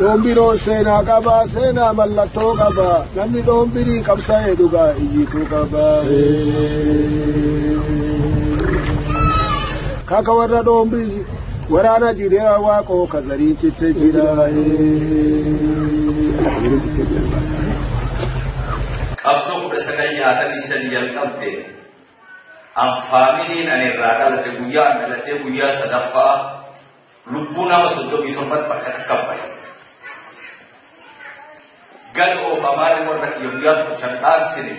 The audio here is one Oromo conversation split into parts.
Doombiroo seenaa qaba, seenaa mallattoo qaba. Namni doombirii qabsa'ee dhugaa iyyituu qaba. Kaka warra doombirii waraana jireenya waaqoo kazariin citte jira. Qabsoo kudha sagal jaatamii sadi jalqabde An faamiliin ani irraa dhaladhe guyyaa an dhaladhee guyyaa sadaffaa lubbuu nama soddomii torbatti bakka takka bahe. Gad oofamaan warra kiyya guyyaa tokko chan dhaansine.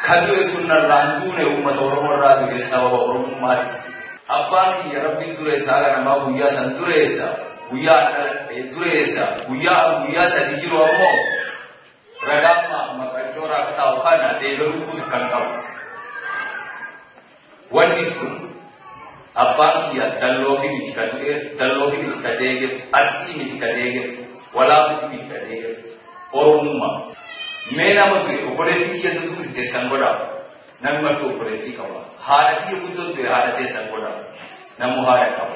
Ka du'e sun narraa hin duune uummata Oromoo irraa du'e sababa Oromummaatiif du'e. Abbaan kiyya rabbiin dureessa haala namaa guyyaa san dureessa guyyaa an dhaladhe dureessa guyyaa an guyyaa sadii jiru ammoo Ragaan maaf maqaan cooraa akka taa'u kana deebii lukkuu takka hin qabu. Wanni sun abbaan kiyya dalloo fi miti ka du'eef, dalloo fi miti ka deegeef, arsii miti ka deegeef, walaabuu fi miti ka deegeef, oromummaa. Mee nama du'e obboleettii kiyya dutuu itti teessan godhaa. Namni martuu obboleettii qaba. Haadha kiyya guddoo du'e haadha teessan godhaa. Namuu haadha qaba.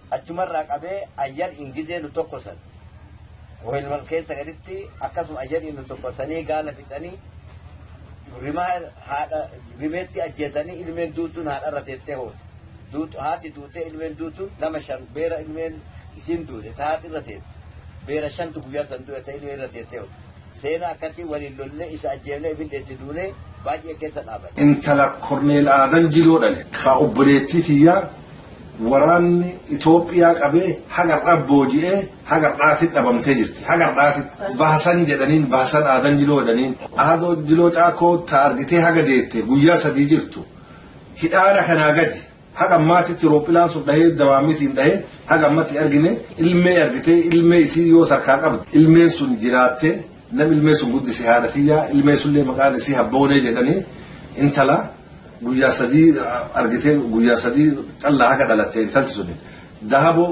Achumarraa qabee ayyar in gizee nu tokkosan Ohelman keessa gaditti akkasuma ayyar in nu tokkosanii gaala fixanii rimaa haadha rimeetti ajjeesanii ilmeen duutuun haadharra teettee hoote. Duutu haati duutee ilmeen duutuun nama shan beera ilmeen isiin duute ta haati irra teette. Beera shantu guyyaa san du'e ta ilmeen irra teettee hoote. Seena akkasii waliin lollee isa ajjeefnee ifillee itti duunee baay'ee keessa dhaabanne. Intala Korneel Aadan Jiloo dhale. Ka obboleettii tiyyaa waraanni Itoophiyaa qabee haga har'aa booji'ee haga har'aatitti dhabamtee jirti. Haga har'aatitti Bahasan jedhaniin Bahasan Aadan Jiloo jedhaniin. Aadoo Jiloo Caakoo ta argitee haga deette guyyaa sadii jirtu hidhaana kanaa gadi Haga ammaatitti roophilaan sun dhahee dawaamitiin dhahee haga ammatti argine ilmee argitee ilmee isii yoo sarkaa qabdu ilmeen sun jiraattee nam ilmee sun guddise haadha tiyyaa ilmee sunillee maqaan isii habboonee jedhanii intala guyyaa sadii argitee guyyaa sadii callaa haga dhalattee intalti suni dahaboo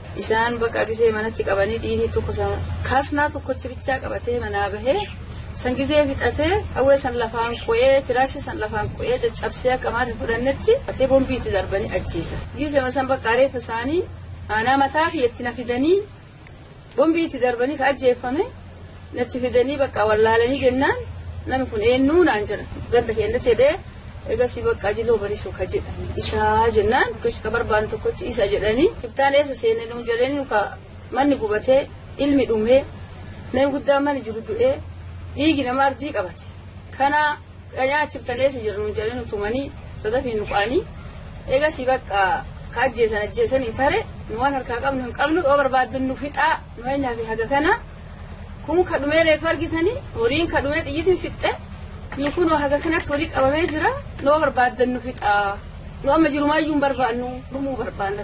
Isaan baqa gisee manatti qabanii xiyitii tokko san kaasnaa tokkochi bichaa qabatee manaa bahee san gisee fixatee qawwee san lafaan qo'ee firaashii san lafaan qo'ee caccabsee akka maarri fudhannetti atee bombii itti darbanii ajjeesa. Gisee san baqa reeffa isaanii aanaa mataa kiyyatti na fidanii bombii itti darbanii ka ajjeeffame. natti fidanii bakka wallaalanii jennaan namni kun eenyuu naan jedha ganda keenyatti jedhee egasii bakka ajiloo barisu ka jedha isaa jennaan ka barbaadu tokkochi isa jedhanii kibtaan eessa seenee nu jedhanii nuka manni gubatee ilmi dhumee namni guddaa manni jiru du'ee dhiigi nama ardii qabate kana nyaachiftan eessa jira nu jedhanii nu tumanii sadafii nu qaanii egasii bakka ka ajjeesan ajjeesanii tare nu waan harkaa qabnu hin qabnu yoo barbaaddan nu fixaa Fakkeenyaaf haga kana kun ka dhumee reefu argitanii horiin ka dhumee xiyyitiin fixxe nu kunoo haga kanatti horii qabamee jira noo barbaaddan nu fixaa nu amma jirumaayyuu hin barbaannu dhumuu barbaanna.